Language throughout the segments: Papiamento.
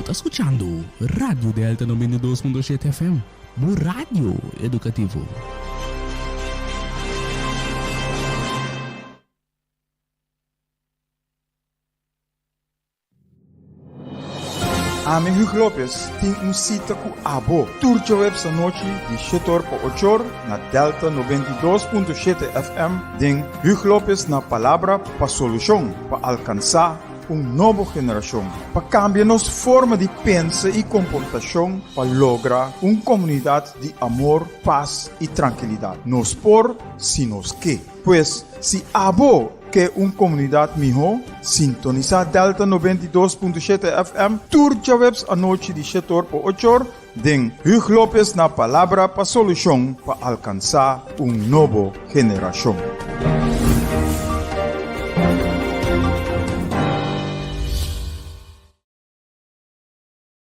Bo ta skuchando Radio Delta noventa i dos punto shete FM, bo radio edukativo. Ami Huug Lopez tin un sita ku abo tur jueves anochi di shetor pa ochor na Delta noventa i dos punto shete FM den Huug Lopez na Palabra pa Solushon pa alkansá un nobo generashon pa kambia nos forma di pensa i komportashon pa logra un komunidat di amor, pas i trankilidat. Nos por si nos ke. Pues, si abo ke un komunidat mihó, sintonisá Delta noventa i dos punto shete FM tur djaweps anochi di shete or pa ocho or den Huug Lopes na Palabra pa Solushon pa alkansá un nobo generashon.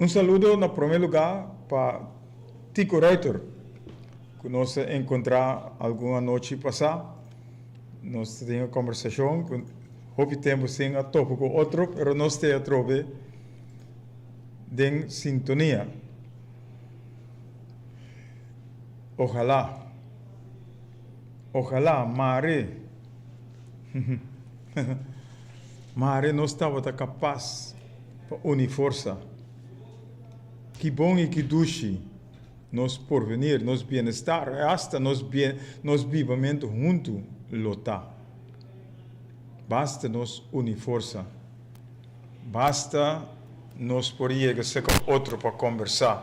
Un saludo na prome lugá pa Tico Ruyter, cu nos a encontrá algun anochi pasá. Nos ta tin e combersacion cu hopi tempu sin a topa cu otro, pero nos t'e atrobe den sintonia. Ojalá, ojalá, mare, mare nos tabata capaz. pa uni forsa. Ki bon i ki dushi nos porvenir, nos bienestar i asta nos bibamentu huntu lo ta! Basta nos uni forsa. Basta. Nos por yega seka otro pa kombersá.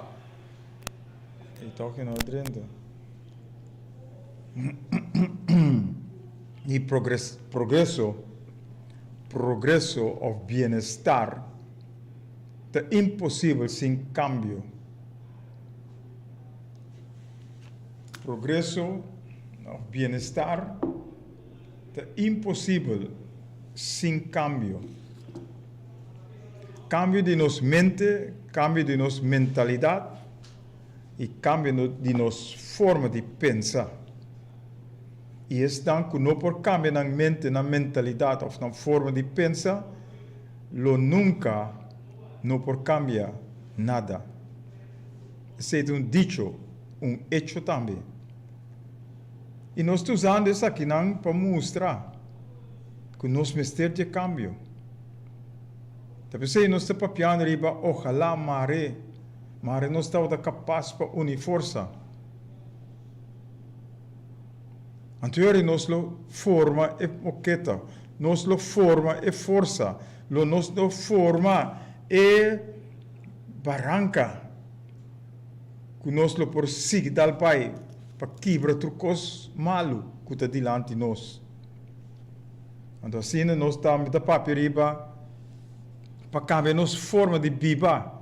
di progreso, progreso of bienestar ta imposibel sin kambio. Progreso of bienestar ta imposibel sin kambio. Kambio di nos mente, kambio di nos mentalidat. i kambia di nos forma di pensa. I esnan ku no por kambia nan mente, nan mentalidat òf nan forma di pensa, lo nunka no por kambia nada. Esei ta un dicho, un echo tambe. I nos ta usando esakinan pa mustra ku nos mester dje kambio. Ta p'esei nos ta papiando riba ojalá mar'é. Mari nos tabata kapas pa uni forsa. Antoyari nos lo forma e moketa, nos lo forma e forsa, lo nos lo forma e baranka ku nos lo por sigui dal bai pa kibra tur kos malu ku ta dilanti nos. Anto asina nos tambe ta papia riba. Pa cambia nos forma di biba,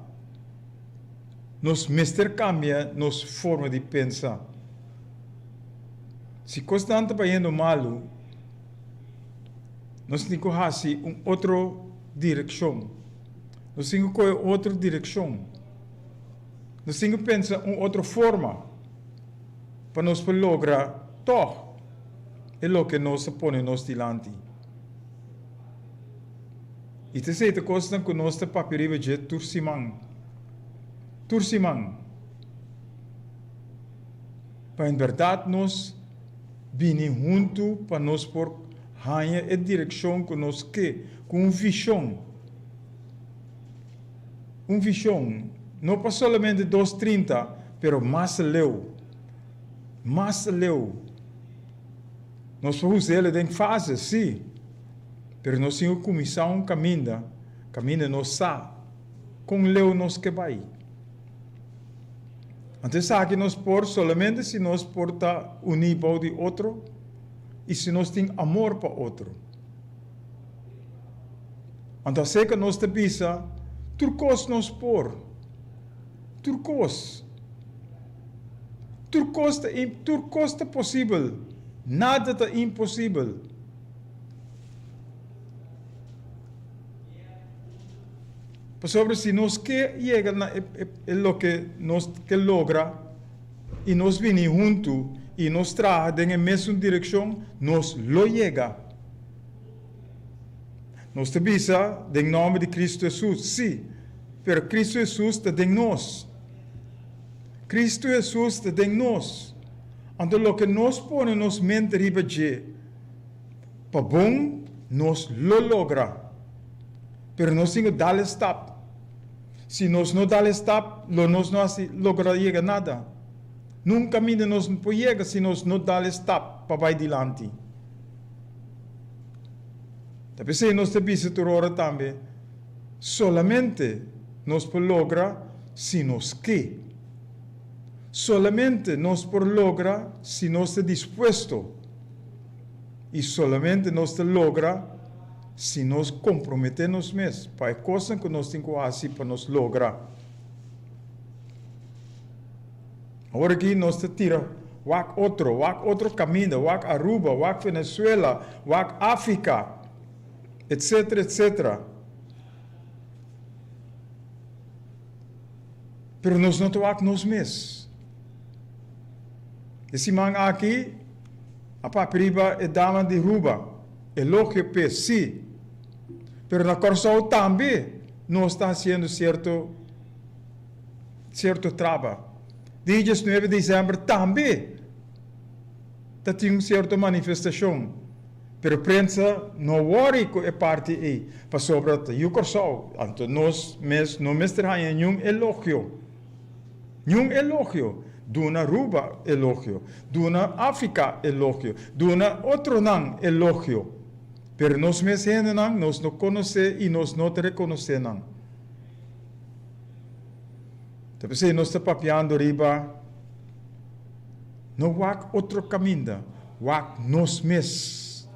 nos mester cambia nos forma di pensa. Si cosnan ta bayendo malu, nos tin cu haci un otro direccion. Nos tin cu coge otro direccion. Nos tin cu pensa un otro forma pa nos por logra tog e loke nos ta pone nos dilanti. I ta esei ta kosnan ku nos ta papia riba dje tur siman. Tur siman. Pa en bèrdat nos bini huntu pa nos por haña e direkshon ku nos ke, ku un vishon. Un vishon no pa solamente dos trinta, pero mas aleu. Mas aleu. Nos por us'el den fases, sí, pero nos tin ku kuminsá un kaminda, kaminda nos sa kon leu nos ke bai. Anto esaki nos por solamente si nos por ta uní bou di otro i si nos tin amor pa otro. Anto aserka nos ta bisa tur kos nos por. Tur kos. Tur kos ta im, tur kos ta posibel. Nada ta imposibel. Pasobra si nos ke yega na e, e, e loke nos ke logra i nos bini huntu i nos traha den e mesun direkshon, nos lo yega. Nos ta bisa, Den nòmber di Kristu Hesus. Sí, pero Kristu Hesus ta den nos. Kristu Hesus ta den nos. Anto loke nos pone nos mente riba dje, pa bon nos lo logra. Pero nos tin cu dal e stap. Si nos no dal e stap, lo nos no a logra yega nada. Nun caminda nos por yega si nos no dal e stap pa bay dilanti. Ta p'esei nos ta bisa tur ora tambe, Solamente nos por logra si nos ke. Solamente nos por logra si nos ta dispuesto. I solamente nos ta logra si nos komprometé nos mes pa e kosnan ku nos tin ku hasi pa nos logra. Ora ki nos ta tira wak otro, wak otro kaminda, wak Aruba, wak Venezuela, wak Africa, etc. Etc. Pero nos no ta wak nos mes. E siman aki a papia riba e dama di Ruba, elogio p'e, si. Pero na Corsou tambe nos ta hasiendo cierto. Cierto traba. Di e diesnuebe december tambe ta tin un cierto manifestacion, pero prensa no wori cu e parti ey, pasobra ta Yu Corsou, anto nos mes no mester haya niun elogio, niun elogio, duna Aruba elogio, duna Africa elogio, duna otronan elogio, pero nos mes hendenan nos no conoce y nos no ta reconoce nan. Ta p'esei nos ta papiando riba no wak otro kaminda, wak nos mes.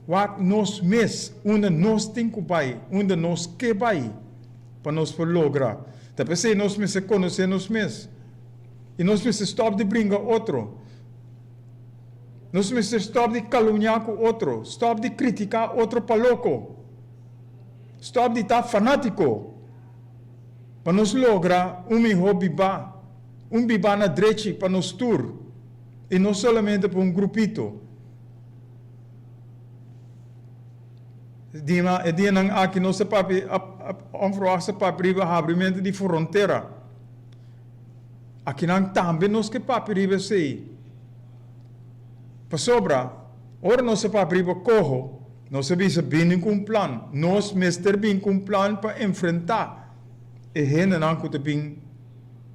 Wak nos mes unda nos tin ku bai, unda nos ke bai pa nos por logra. Ta p'esei nos mester konosé nos mes i nos mester stòp di bringa otro. Nos mester stòp di kalumniá ku otro, stòp di kritiká otro pa loko. Stop di ta fanatiko pa nos logra un miho bibá, un bibá na drechi pa nos tur i no solamente pa un grupito. Dina e dianan aki nos ta papia onverwachts ta papia riba habrimentu di frontera. Akinan tambe nos ke papia riba esei. Pasobra ora nos ta papia riba koho. Nos a bisa bini ku un plan. Nos mester bin ku un plan pa enfrentá e hendenan ku ta bin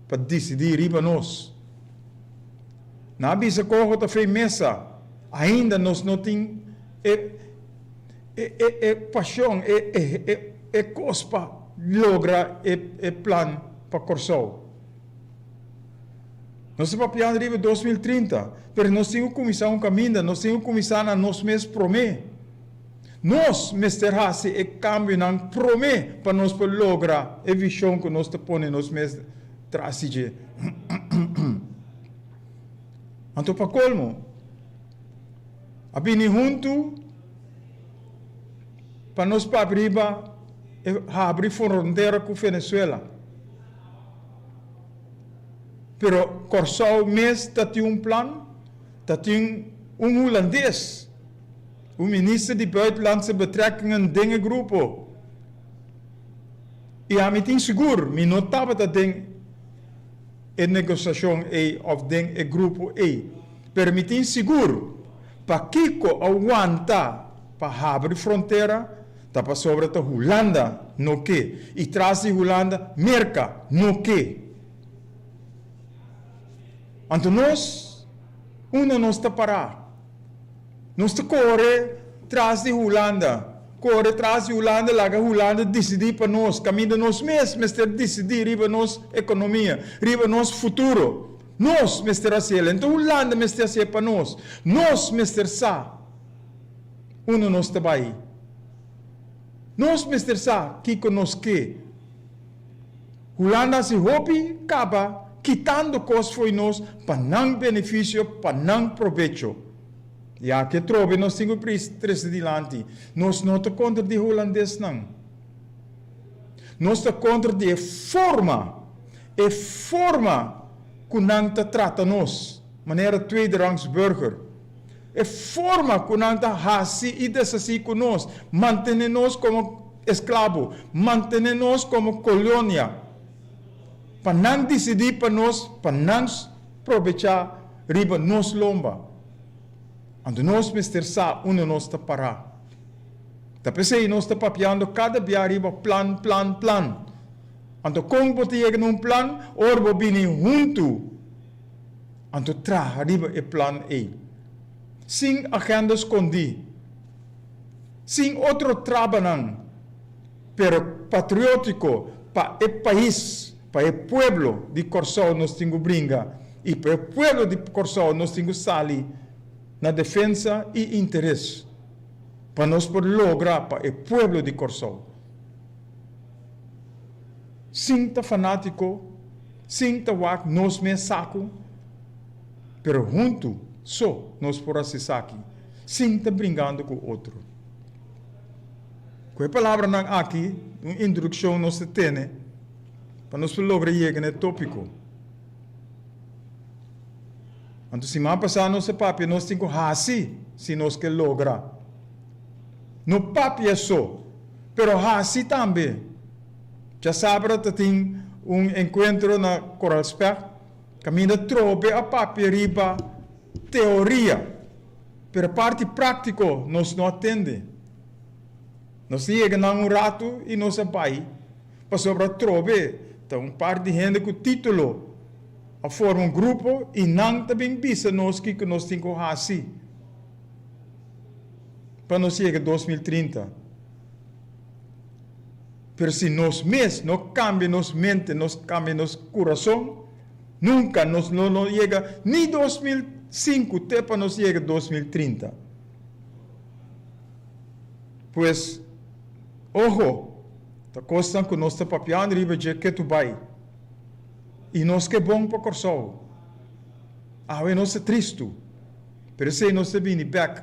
pa disidí riba nos. Nan a bisa koho ta fe mesa. Ainda nos no tin e e pashon, e e e kos pa logra e e plan pa Kòrsou. Nos ta papiando riba e dos mil trinta, pero nos tin ku kuminsá un kaminda, nos tin ku kuminsá na nos mes promé. Nos mester hasi e kambionan promé pa nos por logra e vishon ku nos ta pone nos mes tras di dje. Anto pa kolmo, a bini huntu pa nos papia riba e habri frontera ku Venezuela. pero Kòrsou mes ta tin un plan, ta tin un hulandes, un minister di Buitenlandse Betrekkingen den e grupo i ami tin sigur mi no tabata den e negosiashon ei òf den e grupo ei, pero mi tin sigur pakiko a wanta pa habri frontera? Ta pasobra ta Hulanda no ke i tras di Hulanda Merka no ke. Anto nos unda nos ta pará? Nos ta kore tras di Hulanda, kore tras di Hulanda laga Hulanda disidí pa nos kaminda nos mes mester disidí riba nos ekonomia, riba nos futuro. Nos mester hasiel, anto Hulanda mester hasié pa nos. Nos mester sa. unda nos ta bai. Nos mester sa kiko nos ke. Hulanda hasi hopi kaba kitando kos fo'i nos pa nan benefisio, pa nan provecho. I aki atrobe nos tin ku prisa trese dilanti. Nos no ta kontra di e hulandesnan. Nos ta kontra di e forma, e forma ku nan ta trata nos, manera tweede rangs burger. E forma ku nan ta hasi i deshasí ku nos, mantené nos komo esklabo, mantené nos komo kolonia, pa nan disidí pa nos, pa nan probechá riba nos lomba. Anto nos mester sa unda nos ta pará. Ta p'esei nos ta papiando kada bia riba plan, plan, plan. Anto kon bo ta yega na un plan? Ora bo bini huntu. Anto traha riba e plan ei sin agenda skondí, sin otro trabanan, pero patriótiko pa e pais, pa e pueblo di Kòrsou nos tin ku bringa i pa e pueblo di Kòrsou nos tin ku sali na defensa i interes pa nos por logra pa e pueblo di Kòrsou. Sin ta fanatiko, sin ta wak nos mes saku, pero huntu so nos por hasi esaki, sin ta bringando ku otro. Ku e palabranan aki, un introdukshon nos ta tene pa nos por logra yega na e topiko. Anto siman pasá nos a papia nos tin ku hasi si nos ke logra. No papia so. Pero hasi tambe. Djasabra ta tin un encuentro na Coralspecht, caminda trobe a papia riba teoria, pero parti practico nos no a tende. Nos ta yega nan un ratu y nos a bai, pasobra trobe ta un par di hende cu titulo a forma un grupo y nan ta bin bisa nos kico nos tin cu hasi. pa nos yega dos mil trinta, pero si nos mes no kambia nos mente, no kambia nos kurason, nunka nos no lo yega ni dos mil sinku te pa nos yega dos mil trinta. Pues, oho, ta kosnan ku nos ta papiando riba dje ke tur bai. I nos ke bon pa Kòrsou. Awe nos ta tristu. Pero esei nos ta bini bek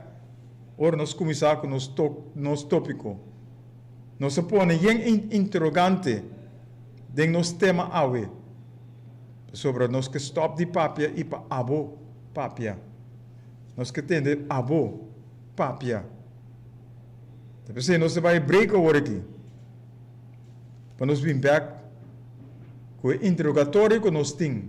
ora nos kuminsá ku nos nos tópiko. Nos a pone yen interogante den nos tema awe pasobra nos ke stòp di papia i pa abo papia. Nos ke tende abo papia. Ta p'esei nos ta bai e break awor aki pa nos bin bek ku e interogatorio ku nos tin.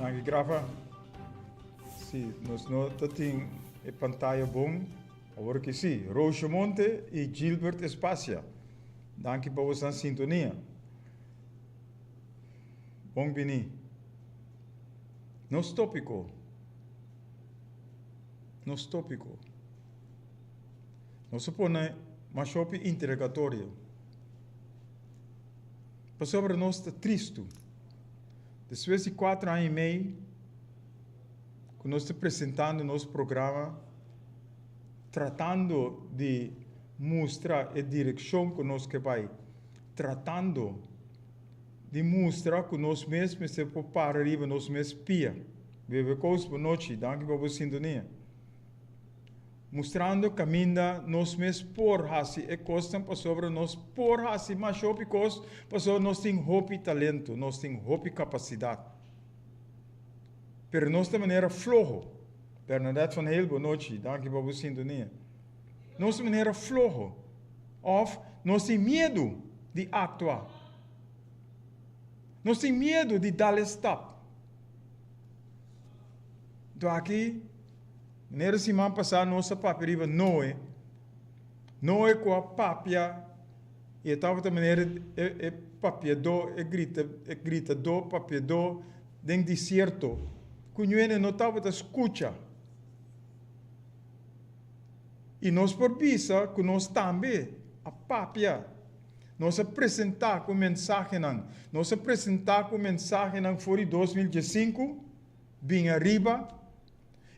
Nan ki graba, si nos no ta tin e pantaya bon, awor ki si. Roosje Monte y Gilbert Espasia, danki pa bosnan sintonia. Bon bini. Nos tópiko, nos tópiko. Nos a pone mashopi interegatorio. Pasobra nos ta tristu. Despues di kuater aña i mei ku nos ta presentando nos programa, tratando di mustra e direkshon ku nos ke bai. Tratando di mustra cu nos mes mester por para riba nos mes pia. Bebe Coast, bo nochi. Danki pa bo sintonia. Mustrando caminda nos mes por haci e cosnan pasobra nos por haci mas hopi cos pasobra nos tin hopi talento, nos tin hopi capacidad. Pero nos ta manera floho. Bernadette van Heel, bo nochi. Danki pa bo sintonia. nos manera floho òf nos tin miedu di aktua. Nos tin miedu di dal e stap. Nton aki, manera siman pasá nos a papia riba Noe, Noe ku a papia i e tabata manera e papiadó, e grita, e gritadó, papiadó den disierto ku ñuene no tabata skucha. I nos por bisa ku nos tambe a papia. Nos a presentá ku mensahenan. Nos a presentá ku mensahenan for di dos mil diesinku bin ariba.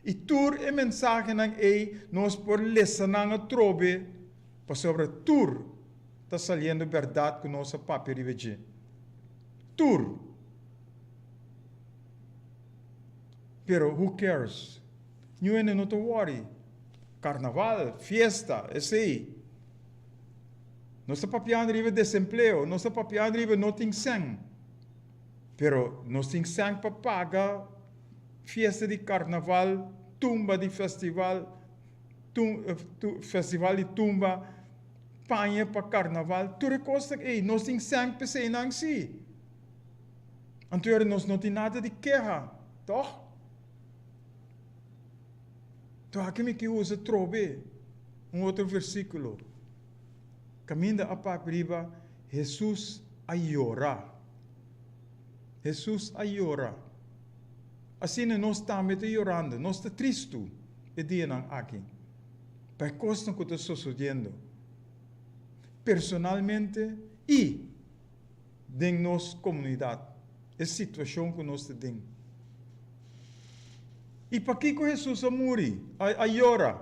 I tur e mensahenan ei nos por lesa nan atrobe pasobra tur ta saliendo bèrdat ku nos a papia riba dje. Tur! Pero who cares? Ñu hende no ta wòri. Karnaval, fiesta, esei. Nos ta papiando riba e desempleo, nos ta papiando riba e no tin sèn. Pero nos tin sèn pa paga fiesta di karnaval, tumba di festival, festival di tumba, paña pa karnaval. Tur e kos ta ei. Nos tin sèn pa eseinan sí. Anto yora nos no tin nada di keha, tòg? Tu aki mi ke usa tro be un otro versíkulo. Kaminda a papia riba Hesus a yora. Hesus a yora. Asina nos tambe ta yorando. Nos ta tristu e dianan aki pa e kosnan ku ta sosodiendo personalmente i. den nos komunidat, e situashon ku nos ta den. I pakiko Hesus a muri, a yora?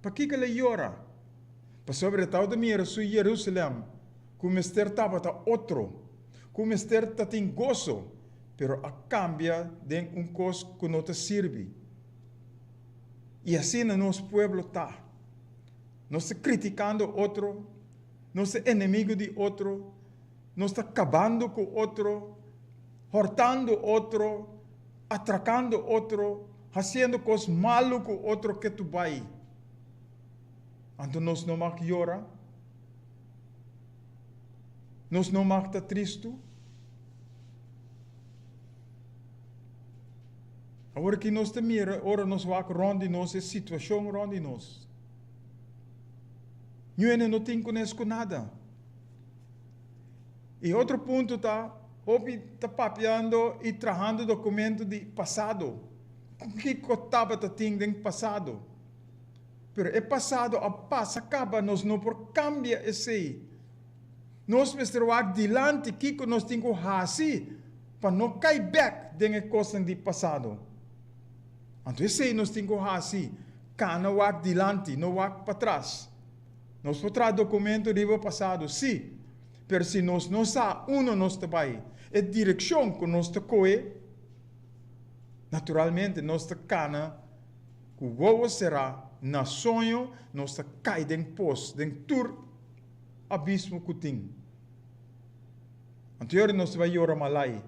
Pakiko el a yora? Pasobra el tabata mira su Yerusalèm ku mester tabata otro, ku mester ta tin goso, pero a kambia den un kos ku no ta sirbi. I asina nos pueblo ta. Nos ta kritikando otro. nos e enemigo di otro, nos ta kabando ku otro, hortando otro, atrakando otro, hasiendo kos malu ku otro ke tu bai. Anto nos no mag yora? Nos no mag ta tristu? Awor aki nos ta mira ora nos wak rònt di nos e situashon rònt di nos. Ñu hende no tin ku nes ku nada. E otro punto ta, hopi ta papiando i trahando dokumento di pasado. Ku kiko tabata tin den pasado? Pero e pasado a pasa kaba, nos no por kambia esei. Nos mester wak dilanti kiko nos tin ku hasi pa no kai bèk den e kosnan di pasado. Anto esei nos tin ku hasi. Cana wak dilanti, no wak patras. Nos por traha documento riba pasado, si, pero si nos no sa unda nos ta bay, e direccion cu nos ta coe, naturalmente nos ta cana cu wowo cera na soño, nos ta cay den pos, den tur abismo cu tin. Anto e ora nos ta bay yora malay.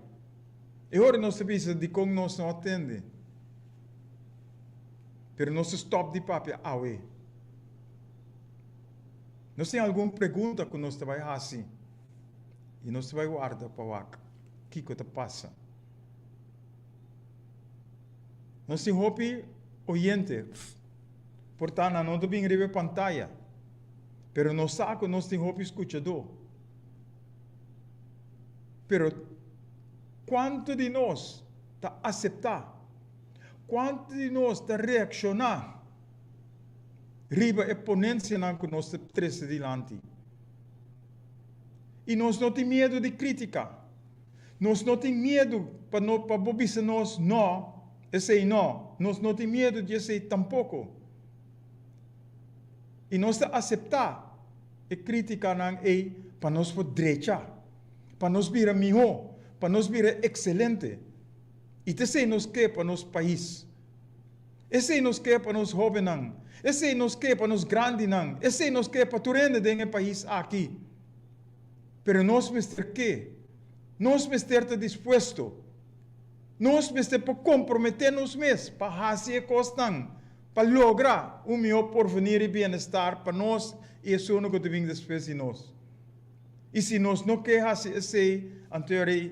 E ora nos ta bisa dicon nos no a tende. pero nos a stòp di papia awe. Nos tin algun pregunta ku nos ta bai hasi i nos ta bai warda pa wak kiko ta pasa. Nos tin hopi oyente, por ta nan no ta bin riba e pantaya, pero nos sa ku nos tin hopi skuchadó. Pero kuantu di nos ta aseptá? Kuantu di nos ta reakshoná riba e ponensianan ku nos ta trese dilanti? I nos no tin miedu di krítika. Nos no tin miedu pa bo bisa nos nò, esei nò. Nos no tin miedu di esei tampoko. I nos ta aseptá e krítikanan ei pa nos por drecha, pa nos bira mihó, pa nos bira ekselente. I ta esei nos ke pa nos pais. Esei nos ke pa nos hóbennan. Esei nos ke pa nos grandinan. Esei nos ke pa tur hende den e pais aki. Pero nos mester ke. Nos mester ta dispuesto. Nos mester por komprometé nos mes pa hasi e kosnan pa logra un mihó porvenir i bienestar pa nos i esunnan ku ta bin despues di nos. I si nos no ke hasi esei, anto e rei.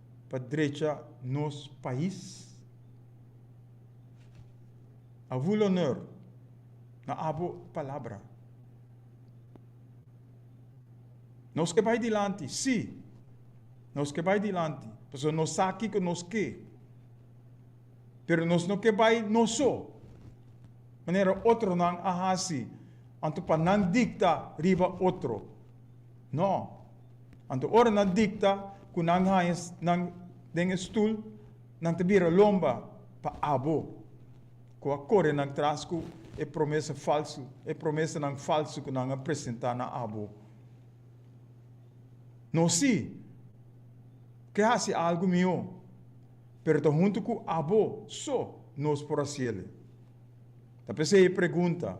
pa drecha nos pais. Abu Lonor na abo palabra. Nos ke bai dilanti si nos ke bai dilanti pasobra nos sa kiko nos ke pero nos no ke bai nos so manera otronan a hasi anto pa nan dikta riba otro no. Anto ora nan dikta ku nan haña nan den e stul, nan ta bira lomba pa abo ku a kore nan tras ku e promesa falsu, e promesanan falsu ku nan a presentá na abo. Nos si ke hasi algu mihó, pero ta huntu ku abo so nos por hasiel. Ta p'esei e pregunta.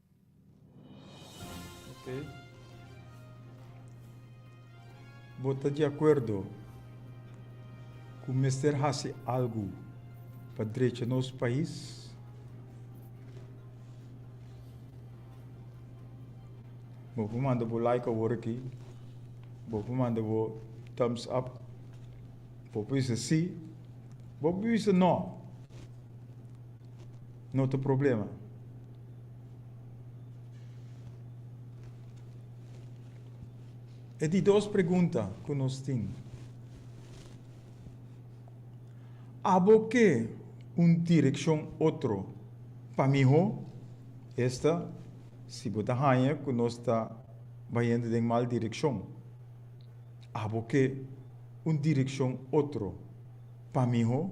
Okay. Bo ta di acuerdo cu mester haci algo pa drecha nos pais? Bo por manda bo like awor aki. Bo por manda bo thumbs up. Bo por bisa sí. Bo por bisa no. no ta problema. E di dos pregunta ku nos tin. Abo ke un direkshon otro pa mihó? Esta si bo ta haña ku nos ta bayendo den mal direkshon. Abo ke un direkshon otro pa mihó?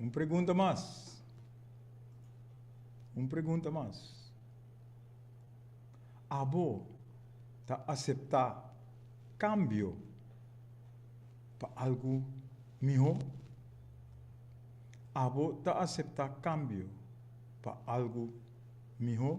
Un pregunta mas. Un pregunta mas. Abo ta aseptá kambio pa algu mihó? Abo ta aseptá kambio pa algu mihó?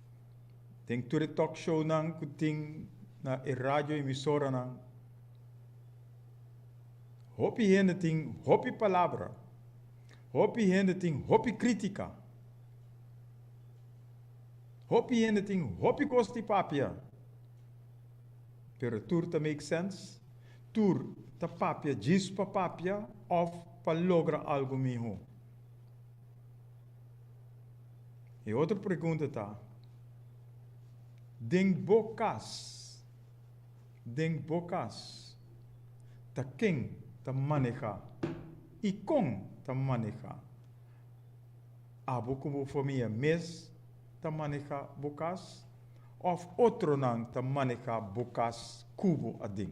den tur e talk shownan ku tin na e radio emisoranan, hopi hende tin hopi palabra, hopi hende tin hopi kritika, hopi hende tin hopi kos di papia, pero tur ta make sense? Tur ta papia djis pa papia òf pa logra algu mihó? E otro pregunta ta, Den bo cas, den bo cas, ta ken ta maneha i con ta maneha? Abo cu bo famia mes ta maneha bo cas of otronan ta maneha bo cas cu bo aden?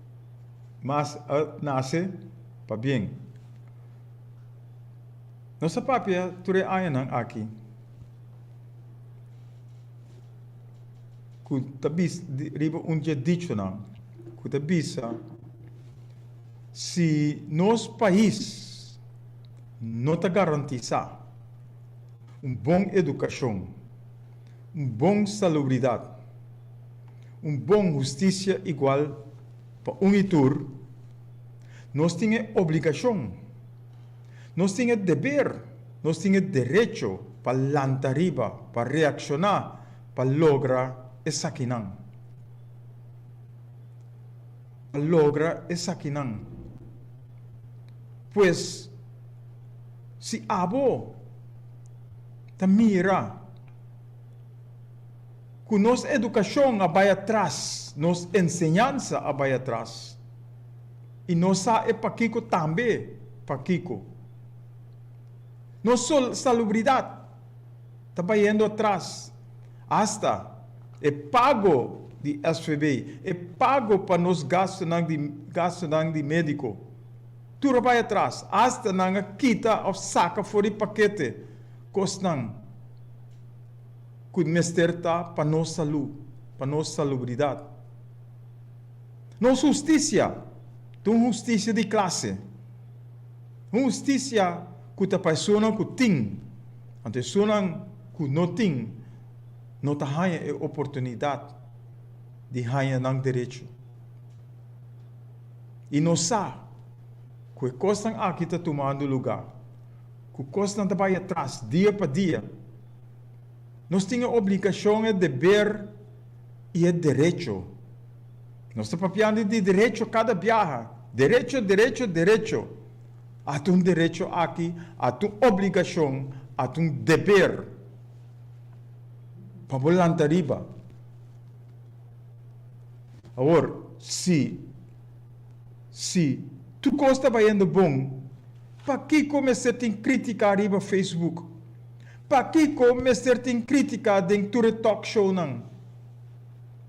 mas a nase pa bien. Nos a papia tur e añanan aki ku ta bisa riba un di e dichonan ku ta bisa, Si nos pais no ta garantisá un bon edukashon, un bon salubridat, un bon hustisia igual pa un i tur, nos tin e obligashon, nos tin e deber, nos tin e derecho pa lanta riba, pa reakshoná pa logra esakinan. Pa logra esakinan. Pues, si abo. ta mira ku nos edukashon a bai atras, nos enseñansa a bai atras i no sa e pakiko tambe pakiko. Nos salubridat ta bayendo atras, asta e pago di SVB, e pago pa nos gastunan di médiko. Tur a bai atras, asta nan a kita of saca for di paquete cosnan cu mester ta pa nos salu, pa nos salubridad. Nos husticia ta un husticia di clase, un husticia cu ta pa esonan cu tin, anto esonan cu no tin no ta haya e oportunidad di haya nan derecho. I nos sa ku e kosnan aki ta tumando lugá, ku kosnan ta bai atras dia pa dia. Nos tin e obligashon, e deber i e derecho. Nos ta papiando di derecho kada biaha. Derecho, derecho, derecho. At un derecho aki, at un obligashon, at un deber pa bo lanta riba. Awor, si si tukos ta bayendo bon, pakiko mester tin kritika riba Facebook? Pakiko mester tin kritika den tur e talk shownan?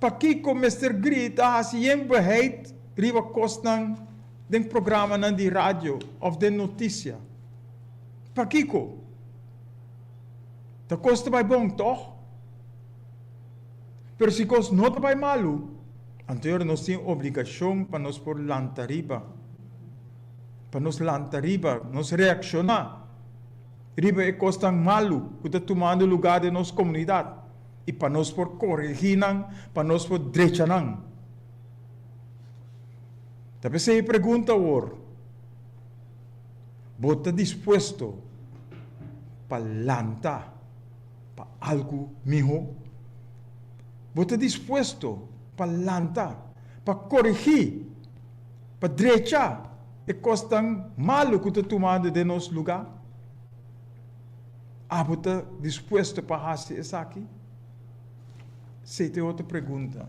Pakiko mester grita hasi yen beheid riba kosnan den programanan di radio of den notisia? Pakiko? Tukos ta bay bon, tòg? Pero si kos no ta bai malu, anto yora nos tin obligashon pa nos por lanta riba, pa nos lanta riba, nos reakshoná riba e kosnan malu ku ta tumando lugá den nos komunidat i pa nos por koregí nan, pa nos por drecha nan. Ta p'esei e pregunta awor, Bo ta dispuesto pa lanta? Pa algu mihó. Bo ta dispuesto pa lanta, pa korigí, pa drechá e kosnan malu ku ta tumando den nos lugá? Abo ta dispuesto pa hasi esaki? Sey ta e otro pregunta.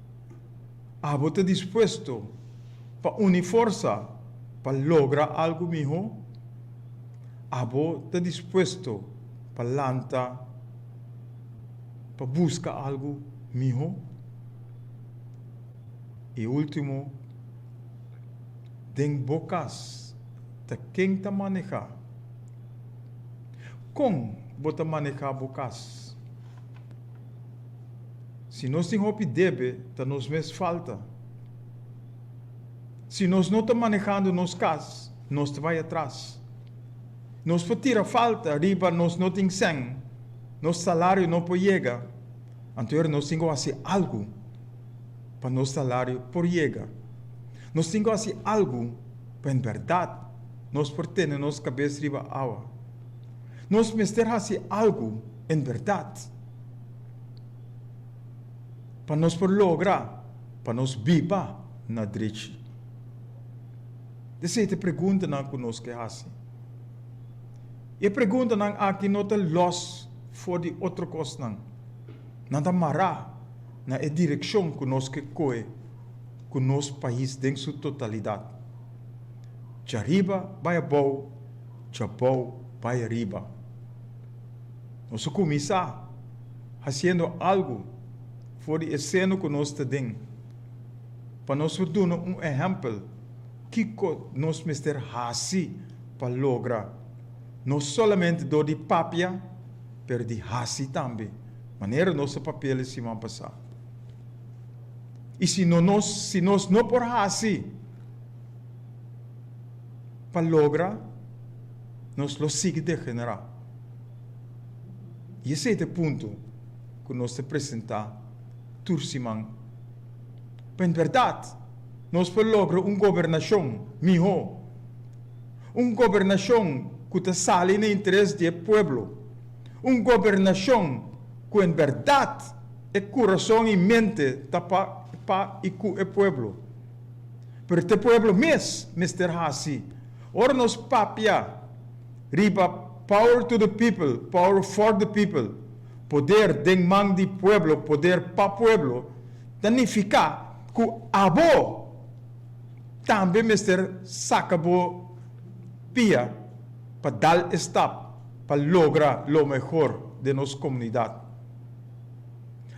Abo ta dispuesto pa uni forsa pa logra algu mihó? Abo ta dispuesto pa lanta pa buska algu mihó? I último, den bo kas ta ken ta manehá? Kon bo ta manehá bo kas? Si nos tin hopi debe, ta nos mes falta. Si nos no ta manehando nos cas, nos ta bai atras. Nos por tira falta riba nos no tin sen, nos salario no por yega, anto era nos tin ku hasi algu pa nos salario por yega. Nos tin ku hasi algu pa en bèrdat nos por tene nos kabes riba awa. Nos mester hasi algu. En berdad, pa nos por logra pa nos biba na drechi, esei ta e preguntanan cu nos ke haci. Y e preguntanan aki no ta los for di otro cosnan. Nan ta mara na e direccion cu nos ke coe cu nos pais den su totalidad. Djariba bai abao, djabao bai ariba. Nos a kuminsá hasiendo algu for di e seno ku nos ta den pa nos por duna un ehèmpel kiko nos mester hasi pa logra no solamente dor di papia pero di hasi tambe, manera nos a papia el e siman pasá. I si no nos si nos no por hasi pa logra. nos lo sigui degenerá. I esei ta e punto ku nos ta presentá tur siman. Pa en bèrdat, nos por logra un gobernashon mihó, un gobernashon ku ta sali na interes di e pueblo, un gobernashon ku en bèrdat e kurason i mente ta pa i ku e pueblo. Pero ta e pueblo mes mester hasi. Ora nos papia riba power to the people, power for the people, poder den man di pueblo, poder pa pueblo, ta nifiká ku abo tambe mester saka bo pia pa dal e stap pa logra lo mehor den nos komunidat.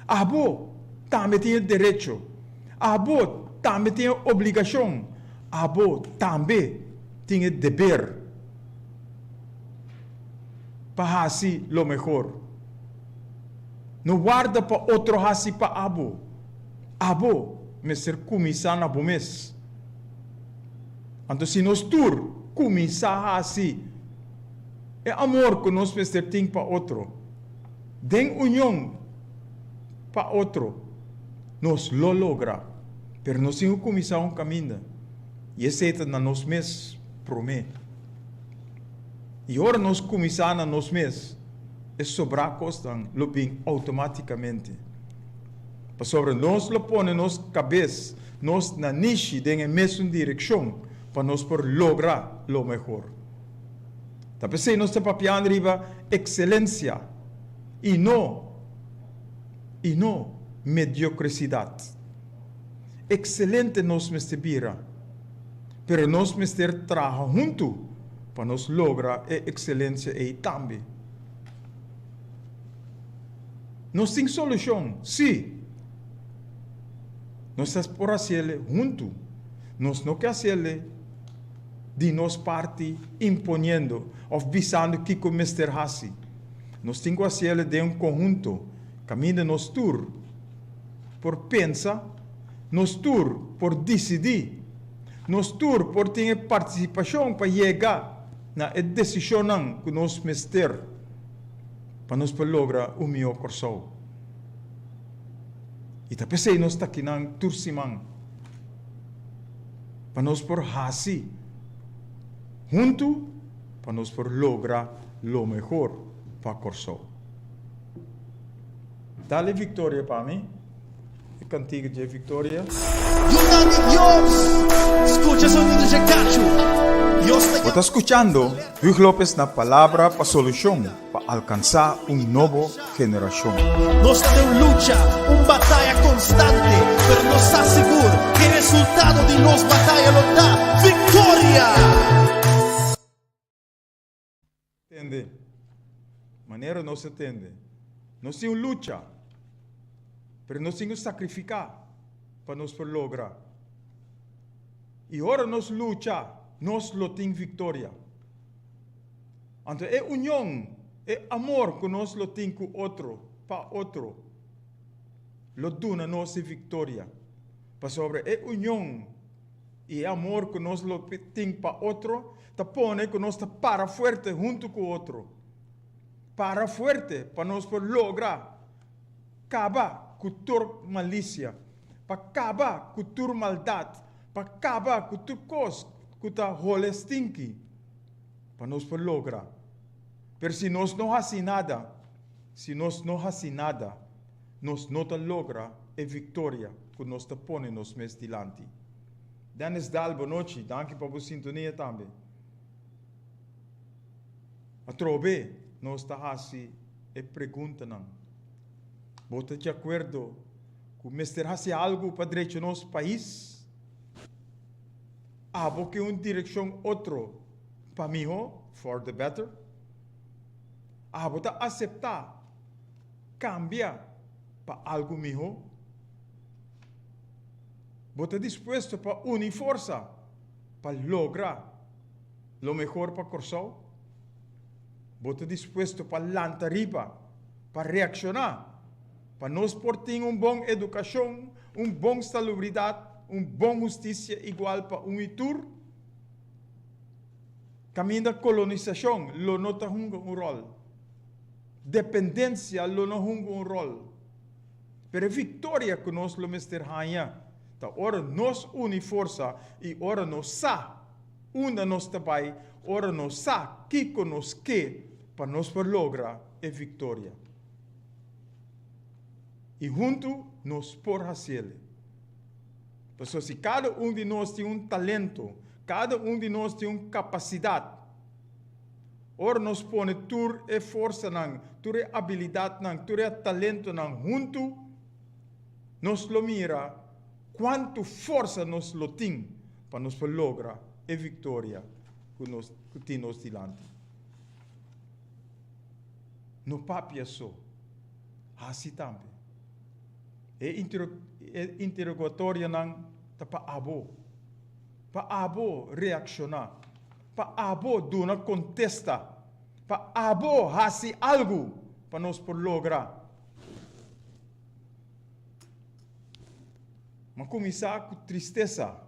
Abo tambe tin e derecho, abo tambe tin e obligashon. Abo tambe tin e deber pa hasi lo mehor. No warda pa otro hasi pa abo. Abo mester kuminsá na bo mes. Anto si nos tur kuminsá hasi e amor ku nos mester tin pa otro den union pa otro, Nos lo logra, pero nos tin ku kuminsá un kaminda, i esei ta na nos mes promé. I ora nos kuminsá na nos mes, e sobrá kosnan lo bin outomátikamente, pasobra nos lo pone nos kabes nos na nishi den e mesun direkshon pa nos por logra lo mehor. Ta p'esei nos ta papiando riba ekselensia i no. i no mediocresidad. Excelente nos mester bira, pero nos mester traha huntu pa nos logra e excelencia ei tambe. Nos tin solucion? Si! Nos ta por haciele huntu. Nos no ke haciele di nos parti imponiendo of bisando kico mester haci. Nos tin cu haciele den un conhunto, caminda nos tur por pensa, nos tur por dicidi, nos tur por tin e participacion pa yega na e decisionnan cu nos mester pa nos por logra un miho Corsou. Y ta pesey nos ta akinan tur siman pa nos por haci hunto. pa nos por logra lo mehor pa Kòrsou. Dale victoria pa mi, e cantiga dje victoria. Yunan di Dios, scucha sonido dje cacho. Bo ta scuchando Hugh Lopez na Palabra pa Solucion. Pa alkansá un nobo generashon. Nos ta den un lucha, un bataya konstante, pero nos ta sigur ku e resultado di nos bataya lo ta viktoria! Tende manera nos ta tende. Nos tin un lucha, pero nos tin ku sakrifiká pa nos por logra. I ora nos lucha, nos lo tin viktoria. Anto e union, e amor cu nos lo tin cu otro, pa otro, lo duna nos e victoria. Pasobra e union y e amor cu nos lo tin pa otro ta pone cu nos ta para fuerte hunto cu otro. Para fuerte pa nos por logra caba cu tur malicia, pa caba cu tur maldad, pa caba cu tur cos cu ta hole stinky. Pa nos por logra. Pero si nos no haci nada, si nos no haci nada, nos no ta logra e victoria cu nos ta pone nos mes dilanti. Dennis Dal bonochi, danki pa bo sintonia tambe. Atrobe nos ta haci e preguntanan. Bo ta djacuerdo cu mester haci algu pa drecho nos pais? Abo ke un direkshon otro pa mihó, for the better? Abo ta aseptá kambia pa algu mihó? Bo ta dispuesto pa uni forsa pa logra lo mehor pa Kòrsou? Bo ta dispuesto pa lanta riba pa reakshoná? Pa nos por tin un bon edukashon, un bon salubridat, un bon hustisia igual pa un i tur, kaminda kolonisashon lo no ta hunga un ròl. Dependensia lo no hunga un ròl. Pero e viktoria ku nos lo mester haña ta ora nos uni forsa i ora nos sa unda nos ta bai, ora nos sa kiko nos ke pa nos por logra e viktoria. i huntu nos por hasi el. Pasobra si kada un di nos tin un talento, kada un di nos tin un kapasidat, ora nos pone tur e forsanan, tur e abilidatnan, tur e talentonan huntu, nos lo mira kuantu forsa nos lo tin pa nos por logra e viktoria ku tin nos dilanti. no papia so. Hasi tambe. E interogatorionan ta pa abo. Pa abo reakshoná. Pa abo duna kontesta. Pa abo hasi algu pa nos por logra. M'a kuminsá ku tristesa.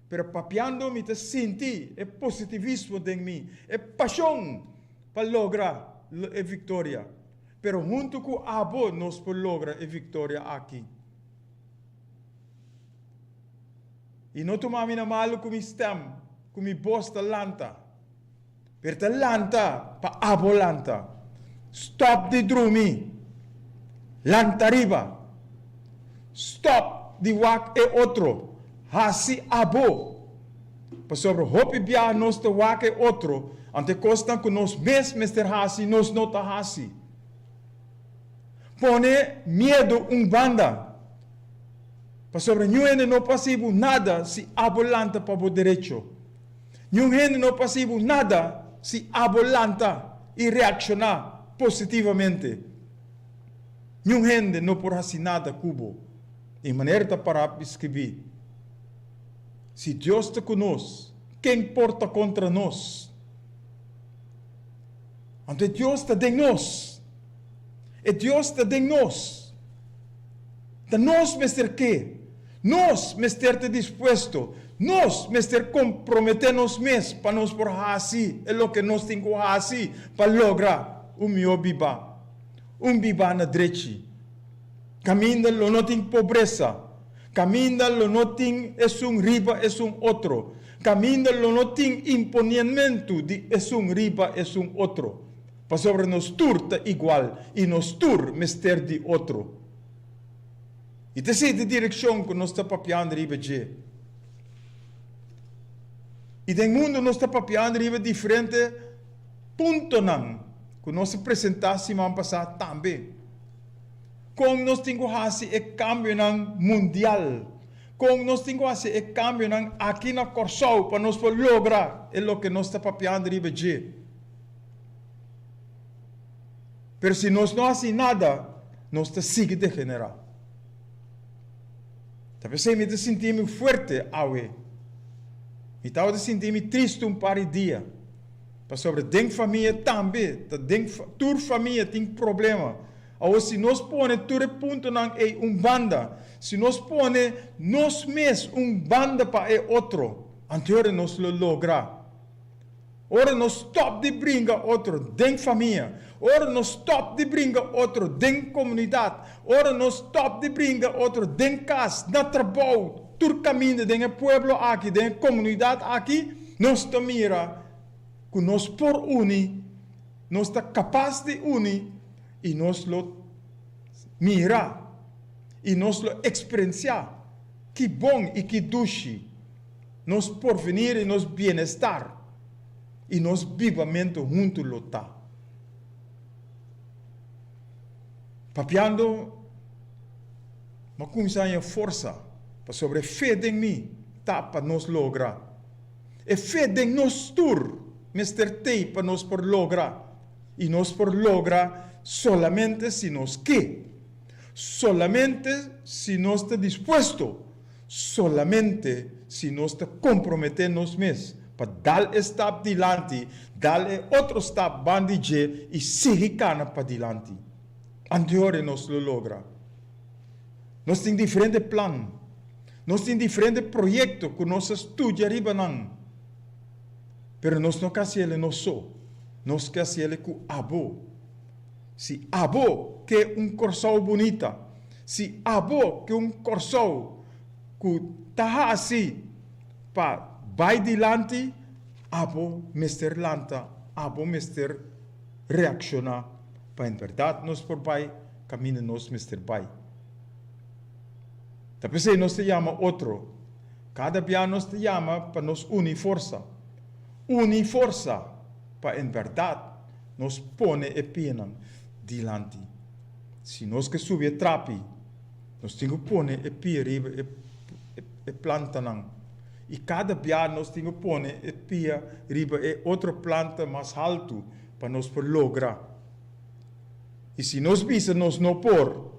pero papiando mi ta sinti e positivismo den mi, e pashon pa logra e viktoria. Pero huntu ku abo nos por logra e viktoria aki. I no tuma mi na malu ku mi stèm, ku mi bos ta lanta. pero ta lanta pa abo lanta stop di drumi lanta riba stop di wak e otro hasi abo pasobra hopi biaha nos ta wak e otro anto e kosnan ku nos mes mester hasi nos no ta hasi pone miedu un banda pasobra niun hende no por hasi bo nada si abo lanta pa bo derecho. Niun hende no p'hasi bo nada si abo lanta i reakshoná positivamente. Niun hende no por hasi nada ku bo, e manera ta pará di skirbí. Si Dios ta ku nos, ken por ta kontra nos? Anto e Dios ta den nos. E Dios ta den nos. Ta nos mester ke. Nos mester ta dispuesto, nos mester komprometé nos mes pa nos por hasi e loke nos tin ku hasi pa logra un mihó bibá, un bibá na drechi. Kaminda lo no tin pobresa, kaminda lo no tin esun riba esun otro, kaminda lo no tin imponienmentu di esun riba esun otro, pasobra nos tur ta igual i nos tur mester di otro. I ta esei direkshon ku nos ta papiando riba dje. I den mundu nos ta papiando riba diferente puntonan ku nos a presentá siman pasá tambe. Kon nos tin ku hasi e kambionan mundial? Kon nos tin ku hasi e kambionan aki na Kòrsou pa nos por logra e loke nos ta papiando riba dje? pero si nos no hasi nada nos ta sigui degenerá. Ta p'esei mi ta sinti mi fuerte awe. Mi tabata sinti mi triste un par di dia pasobra den famia tambe ta den tur famia tin problema. Awo si nos pone tur e puntonan ei un banda, si nos pone nos mes un banda pa e otro, anto hora nos lo logra. Ora nos stòp di bringa otro den famia, ora nos stòp di bringa otro den komunidat, ora nos stòp di bringa otro den kas, na trabou, tur kaminda den e pueblo aki, den e komunidat aki, nos ta mira ku nos por uni, nos ta kapas di uni i nos lo mira i nos lo eksperensiá ki bon i ki dushi Nos porvenir i nos bienestar i nos bibamentu huntu lo ta papiando. M'a kuminsá haña forsa pasobra e fe den mi ta pa nos logra. E fe den nos tur mester t'ei pa nos por logra i nos por logra solamente si nos ke, solamente si nos ta dispuesto. Solamente si nos ta komprometé nos mes pa dal e stap dilanti, dal e otro stap ban di dje i sigui kana padilanti, anteore nos lo logra. Nos tin diferente plan, nos tin diferente proyekto ku nos a studia riba nan, pero nos no ke hasiel e nos so, nos ke hasiel e ku abo. Si abo ke un Kòrsou bunita, si abo ke un Kòrsou ku ta hasi pa bai dilanti, abo mester lanta, abo mester reakshoná pa en bèrdat nos por bai kaminda nos mester bai. Ta p'esei nos ta yama otro, kada bia nos ta yama pa nos uni forsa, uni forsa pa en bèrdat. Nos pone e pienan dilanti. Si nos ke subi e trapi, nos tin ku pone e pie riba e plantanan. I kada bia nos tin ku pone e pia riba e otro planta mas haltu pa nos por logra. I si nos bisa nos no por,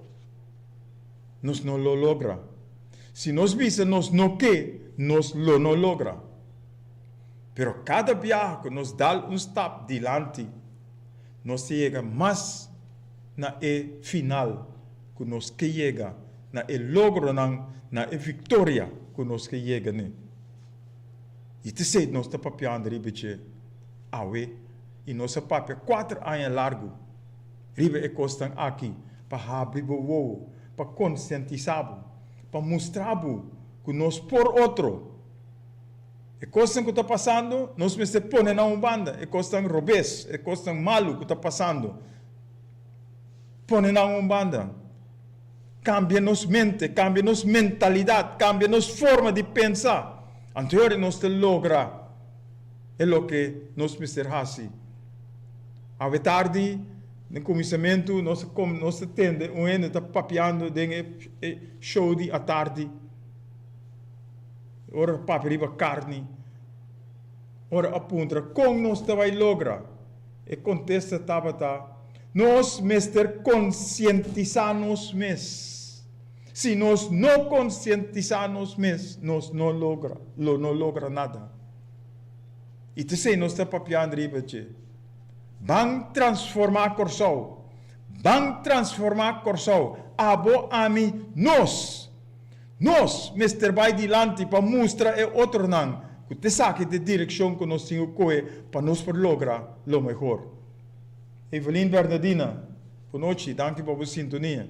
nos no lo logra. Si nos bisa nos no ke, nos lo no logra. Pero kada biaha ku nos dal un stap dilanti, nos ta yega mas na e final ku nos ke yega, na e logronan, na e viktoria ku nos ke yega ne. I ta esei nos ta papiando riba dje awe i nos a papia kuater aña largu riba e kosnan aki pa habri bo wowo, pa konsientisá bo, pa mustra bo ku nos por otro. E kosnan ku ta pasando, nos mester pone na un banda. E kosnan robes, e kosnan malu ku ta pasando, pone nan un banda. Kambia nos mente, kambia nos mentalidat, kambia nos forma di pensa. Anto e nos ta logra e loke nos mester hasi. Awe tardi, den kuminsamentu, nos ta, nos ta tende un hende ta papiando den e show di atardi. Ora ta papia riba carni, ora a puntra con nos ta bay logra, e contesta tabata, Nos mester concientisa nos mes. Si nos no concientisa nos mes, nos no logra, lo no logra nada. Y ta esey nos ta papiando riba dje. Ban transforma Corsou. Ban transforma Corsou. Abo, ami, nos. Nos mester bai dilanti pa mustra e otronan cu ta esaki ta e direccion cu nos tin cu coge pa nos por logra lo mehor. Evelyn Bernadina, Bo nochi, danki pa bo sintonia.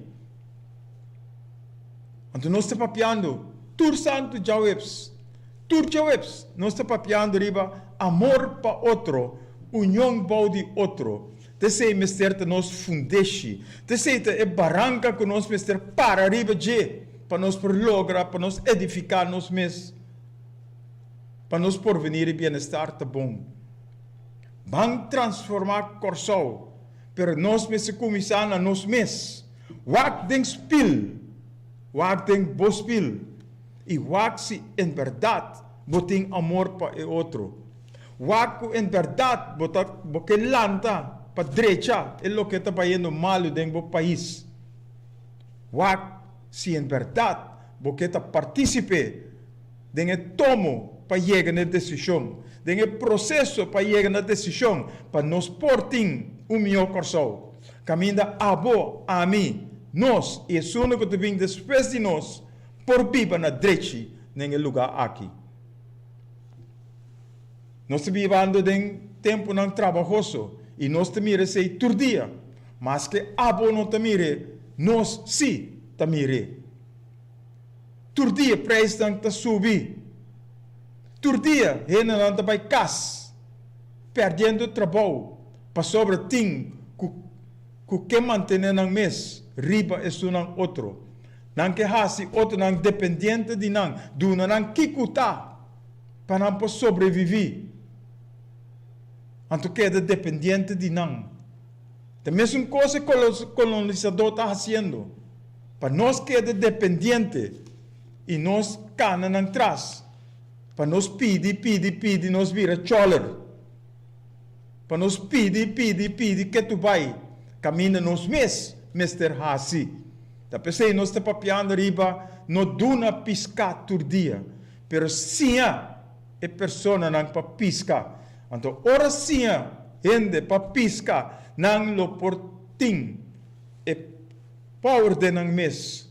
Anto nos ta papiando tur santo djaweps. Tur djaweps nos ta papiando riba amor pa otro, union bou di otro. T'esei mester ta nos fundeshi. T'esei ta e baranka ku nos mester para riba dje pa nos por logra, pa nos edifiká nos mes, pa nos porvenir i bienestar ta bon. Ban transformá Kòrsou, pero nos mester kuminsá na nos mes. Wak den spil, wak den bo spil i wak si en bèrdat bo tin amor pa e otro. Wak ku en bèrdat bo ta bo ke lanta pa drecha e loke ta bayendo malu den bo pais. Wak si en bèrdat bo ke ta partisip'é den e tomo pa yega n'e desishon, den e proseso pa yega na desishon pa nos por tin un mihó Kòrsou. Kaminda abo, ami, nos i esun'e ku ta bin despues di nos por biba na drechi n'en e lugá aki. Nos ta bibando den tempunan trabahoso i nos ta mira esei tur dia. Maske abo no ta mir'é, nos sí ta mir'é. Tur dia preisnan ta subi. Tur dia hendenan ta bai kas, pèrdiendo trabou pasobra tin ku ku ke mantené nan mes riba esunnan otro. Nan ke hasi otronan dependiente di nan, duna nan kiku ta. pa nan por sobreviví, anto keda dependiente di nan. Ta mesun kos e kolonisadó ta hasiendo pa nos keda dependiente i nos kana nan tras pa nos pidi, pidi, pidi nos bira chòler, pa nos pidi, pidi, pidi ke tur bai kaminda nos mes mester hasi. Ta p'esei nos ta papiando riba no duna piská tur dia. Pero siña e personanan pa piska. Anto ora siña hende pa piska, nan lo por tin e power den nan mes,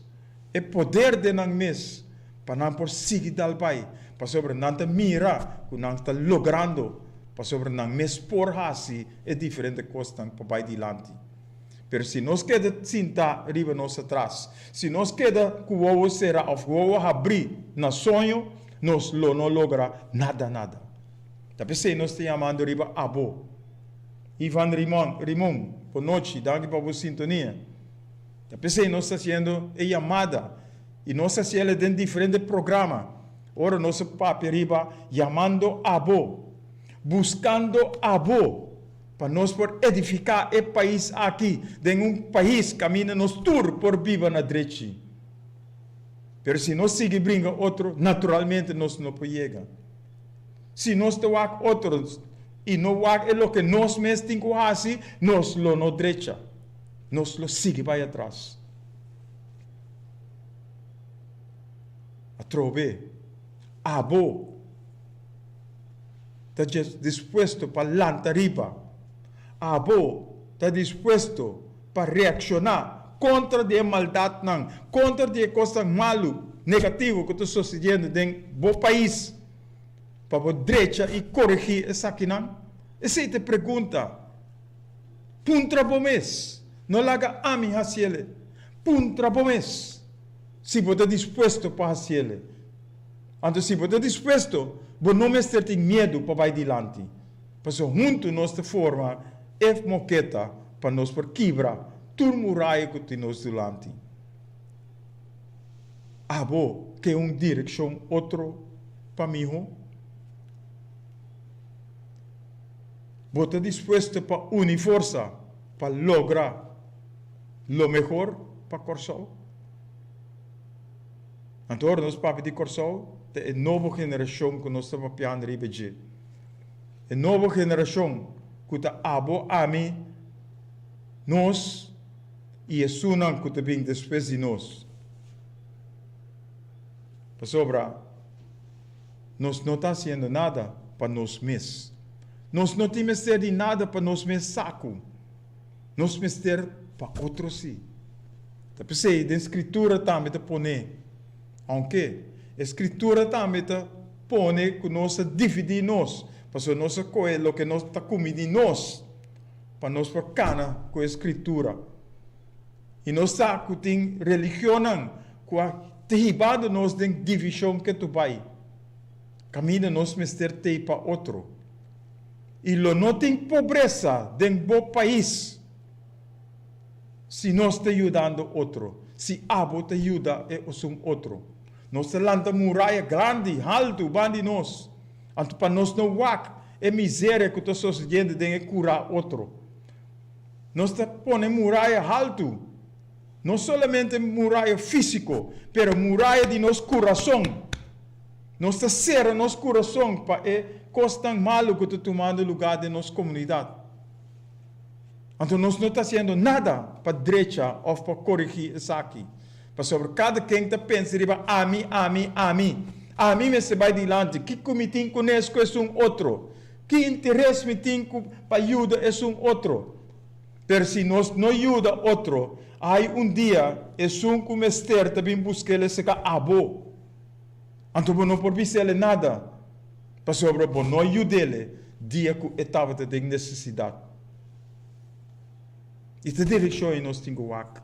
e poder den nan mes, pa nan por sigui dal bai, pasobra nan ta mira ku nan ta logrando, pasobra nan mes por hasi e diferente kosnan pa bai dilanti. Pero si nos keda sintá riba nos atras, si nos keda ku wowo será òf wowo habrí na soño, nos lo no logra nada nada. Ta p'esei nos ta yamando riba abo. Ivan Rimon, Rimon, bon nochi, danki pa bo sintonia. Ta p'esei nos ta hasiendo e yamada i nos ta hasiel e den diferente programa, ora nos a papia riba yamando abo, buskando abo. Pa nos por edifiká e pais aki den un pais kaminda nos tur por biba na drechi. Pero si nos sigui bringa otro, naturalmente nos no por yega. Si nos ta wak otros i no wak e loke nos mes tin ku hasi, nos lo no drecha, nos lo sigui bai atras. Atrobe, abo. ta dispuesto pa lanta riba, abo ta dispuesto pa reacciona contra di e maldadnan, contra di e cosnan malu, negativo cu ta sucediendo den bo pais, pa bo drecha y corigi esakinan? Esey ta e pregunta. Puntra bo mes, no laga ami haci el'e. Puntra bo mes si bo ta dispuesto pa haci el'e. Anto si bo ta dispuesto, bo no mester tin miedu pa bai dilanti, pasobra huntu nos ta forma e moketa pa nos por kibra tur muraya ku tin nos dulanti. Abo ke un direkshon otro pa miho? Bo ta dispuesto pa uni forsa pa logra lo mehor pa Kòrsou? Anto ora nos papia di Kòrsou, ta e nobo generashon ku nos ta papian riba dje. E nobo generashon ku ta abo, ami, nos i esunnan ku ta bin despues di nos. Pasobra nos no ta hasiendo nada pa nos mes. Nos no tin mester di nada pa nos mes sa ku. nos mester pa otro si. Ta p'esei den Skritura tambe ta pone, Aunke e Skritura tambe ta pone ku nos a dividí nos, pasobra nos a kohe loke nos ta kumi di nos pa nos por kana ku e Skritura. I nos sa ku tin religionnan ku a ta hibado nos den divishon ke tu bai kaminda nos mester t'ei pa otro. y lo no tin pobresa den bo pais si nos ta yudando otro, si abo ta yuda e osun otro. Nos ta lanta muraya grandi, haltu ban di nos, anto pa nos no wak e miseria cu ta sosediendo den e cura otro. Nos ta pone muraya haltu. No solamente muraya físiko, pero muraya di nos kurason. Nos ta sera nos kurason pa e kosnan malu ku ta tumando lugá den nos komunidat. Anto nos no ta hasiendo nada pa drecha òf pa korigí esaki. Pasobra kada ken ta pensa riba ami, ami, ami. Ami mester bai dilanti. Kiko mi tin ku nes ku esun otro? Ki interes mi tin pa yuda esun otro? Per si nos no yuda otro, hay un dia esun cu mester ta bin busquel e seca abo, anto bo no por bisele nada, pasobra bo no a yudele dia cu e tabata den necesidad. Y ta direccion y nos tin cu wak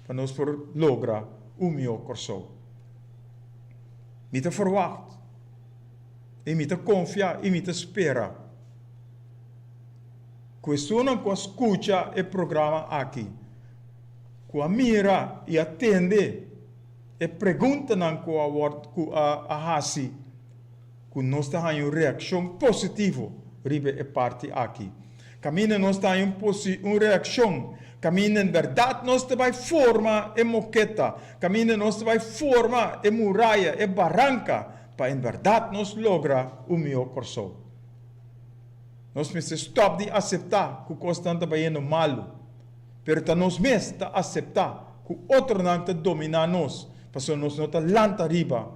pa nos por logra un mihor Corsou. Mi ta verwacht y mi ta confia y mi ta spera. Cuestionnan cu a scucha e programa aki, cu a mira y a tende e preguntanan cu a word cu a haci, cu nos ta haña un reaccion positivo riba e parti aki. Caminda nos ta haña un reaccion, caminda en berdad nos ta bay forma e moketa, caminda nos ta bay forma e muraya, e baranca, pa en berdad nos logra un mihor Corsou. Nos mester stòp di aseptá ku kosnan ta bayendo malu, pero ta nos mes ta aseptá ku otronan ta dominá nos pasobra nos no ta lanta riba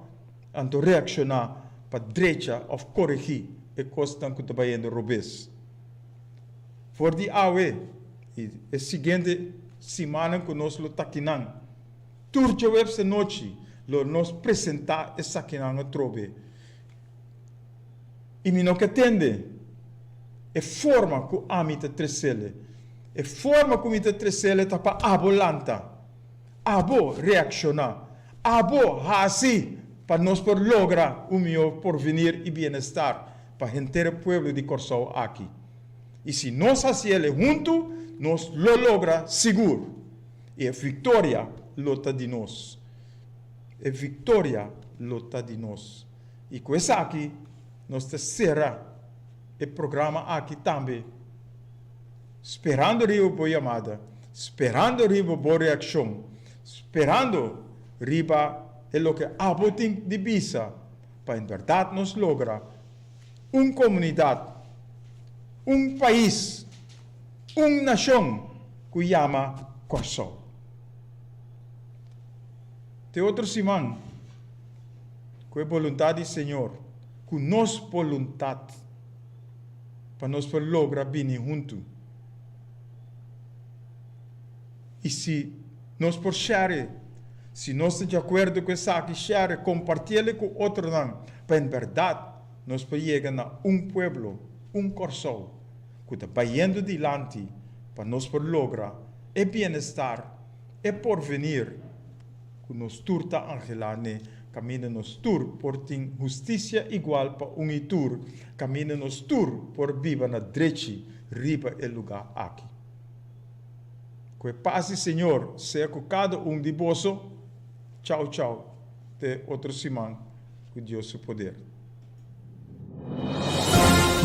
anto reakshoná pa drecha òf koregí e kosnan ku ta bayendo robes. For di awe i e siguiente simannan ku nos lo ta akinan, tur Juebs anochi lo nos presentá esakinan atrobe. i mi no ke tende e forma ku ami ta tresele. E forma ku mi ta tresele ta pa abo lanta, abo reakshoná, abo hasi pa nos por logra un mihó porvinir i bienestar pa henter e pueblo di Kòrsou aki. I si nos hasi el'e huntu, nos lo logra sigur i e viktoria lo ta di nos. E viktoria lo ta di nos. I ku esaki nos ta sera e programa aki tambe sperando riba bo yamada, sperando riba bo reakshon, sperando riba e loke abo tin di bisa pa en bèrdat nos logra un komunidat, un pais, un nashon ku yama Kòrsou. Te otro siman, ku e boluntat di Señor, ku nos boluntat, pa nos por logra bini huntu. I si nos por share, si nos ta diakuerdo ku esaki, share, kompartí ali ku otronan, pa en bèrdat nos por yega na un pueblo, un Kòrsou ku ta bayendo dilanti, pa nos por logra e bienestar. E porvenir cu nos tur ta angela n'e caminda nos tur por tin husticia igual pa un y tur, caminda nos tur por biba na drechi riba e lugar aki. Cu e paz di Señor sea cu cada un di boso. Chao chao te otro siman cu Dios su poder.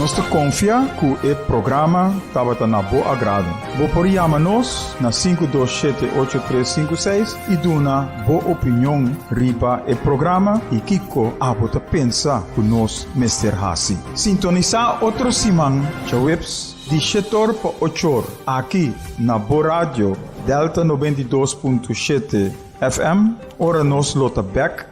Nos ta konfia ku e programa tabata na bo agrado. Bo por yama nos na sinku dos shete ocho tres sinku seis i duna bo opinion riba e programa i kiko abo ta pensa ku nos mester hasi. Sintonisá otro siman djaweps di shetor pa ochor aki na bo radio Delta noventa i dos punto shete FM ora nos lo ta bèk.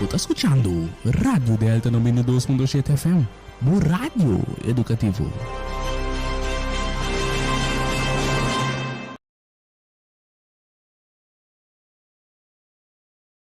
Bo ta skuchando Radio Delta nobenta dos punto siete FM, bo radio edukativo.